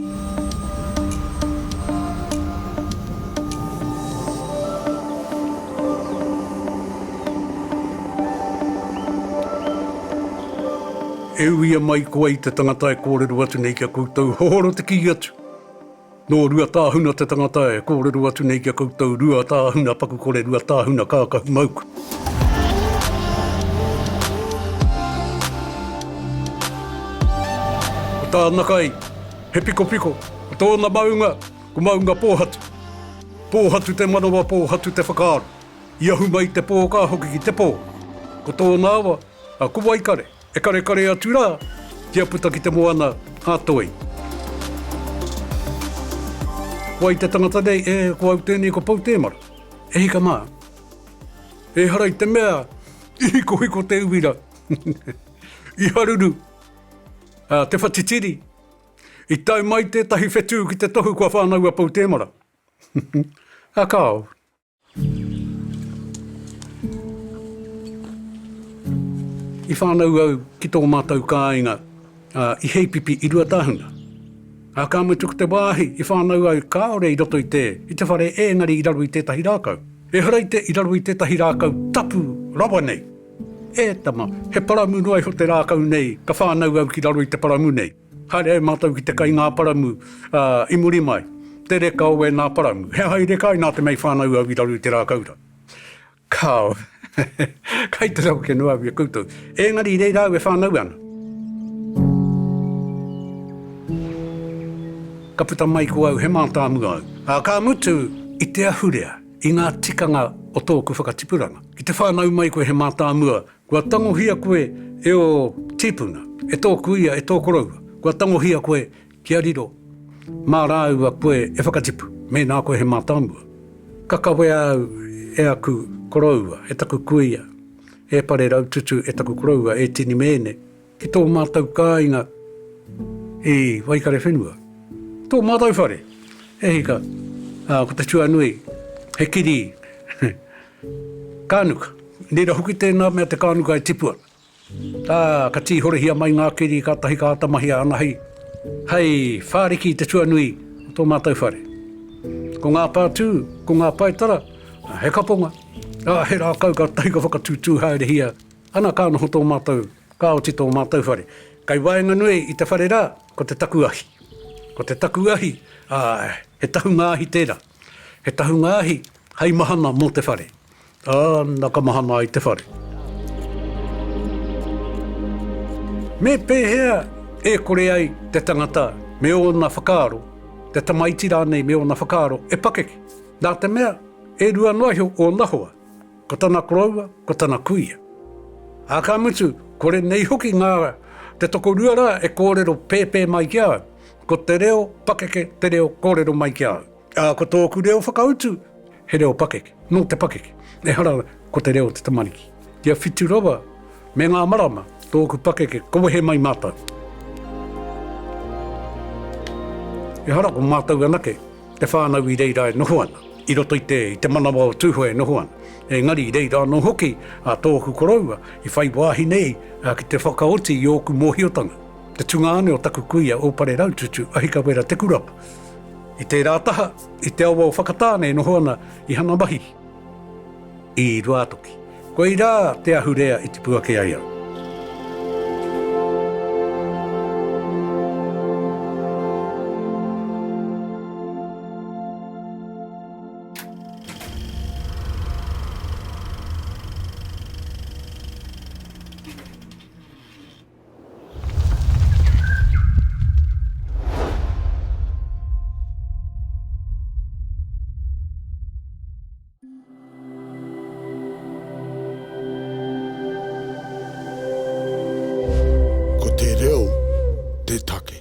E uia mai koa i te tangata e kōrero atu nei ki a koutou, hohoro te kī atu. Nō Ruatāhuna te tangata e kōrero atu nei ki a koutou, Ruatāhuna paku kore, Ruatāhuna kākahu mauku. Ko tāna kai, He pikopiko, ko tōna maunga, ko maunga pōhatu. Pōhatu te manawa, pōhatu te whakaaro. I ahu mai i te pō ka hoki ki te pō. Ko tōna awa, a Ko Waikare, e karekare atu rā, kia puta ki te moana a Toi. Ko ai te tangata nei, e, ko au tēnei ko Poutēmara. E hika mā. Ehara i te mea, i hikohiko te uira. I haruru. A Te Whatitiri, I tau mai tētahi whetū ki te tohu kua whānau a Pou Tēmara. A Kāore. I whānau au ki tō mātou kāinga i Heipipi i Ruatāhuna. A ka mutu ko te wāhi i whānau ai kāore i roto i te, i te whare ēngari i raro i tētahi rākau. Ehara i te i raro i tētahi rākau tapu rawa nei. E tama, he paramu noa iho te rākau nei, ka whānau au ki raro i te paramu nei. Haere ai mātou ki te kai ngā paramu, ā, i muri mai, te reka o ēnā paramu. He aha i reka ai nā te mea i whānau au i raro i te rākau rā? Kāo. kai te raweke noa au i a koutou. Engari reira au e whānau ana. Ka puta mai ko au he mātāmua au, ā, ka mutu i te ahurea. I ngā tikanga o tōku whakatipuranga, ki te whānau mai koe he mātāmua, kua tangohia koe e ō tīpuna, e tō kuia, e tō koroua, kua tangohia koe kia riro mā rāua koe e whakatipu, mēnā koe he mātāmua. Ka kawea au e aku koroua, e taku kuia, e Pareraututu, e taku koroua, e Tinimēne. Ki tō mātou kāinga i Waikarewhenua, tō mātou whare, e hika, ā, ko te tuanui, he kiri kānuka. Reira hoki tēnā mea te kānuka e tipua, ā, ka tīhorehia mai ngā kiri kātahi ka āta mahia ana hei, hei whāriki i te tuanui o tō mātou whare. Ko ngā pātū, ko ngā paetara, he kaponga, ā, he rākau kātahi ka whakatūtū haerehia Ana ka noho tō mātou, ka oti tō mātou whare. Kei waenganui i te whare rā, ko te taku ahi. Ko te taku ahi, ā, he tahunga ahi tērā. He tahunga ahi hei mahana mō te whare. Ā, nā ka mahana ai te whare. Me pēhea e kore ai te tangata me ōna whakaaro, te tamaiti rānei me ōna whakaaro e pakeke? Nā te mea, e rua noa iho ōna hoa. Ko tana koroua, ko tana kuia. Ā, ka mutu, kore nei hoki ngā te tokorua rā e kōrero pēpē mai ki a au, ko te reo pakeke te reo kōrero mai ki a au. Ā, ko tōku reo whakautu, he reo pakeke, nō te pakeke, ehara ko te reo o te tamariki. Kia whitu rawa me ngā marama tōku pakeke ka wehe mai mātou. Ehara ko mātou anake Te whānau i reira e noho ana, i roto i te, i te manawa o Tūhoe e noho ana. Engari i reira anō hoki a tōku koroua i whai wāhi nei ki te whakaoti i ōku mōhiotanga, te tungāne o taku kuia o Pareraututu, Ahikawera Tekurapa. I tērā taha, i te awa o Whakatāne e noho ana i Hanamahi. I Ruātoki. Koirā te ahurea i tipu ake ai au. Ko te reo te take.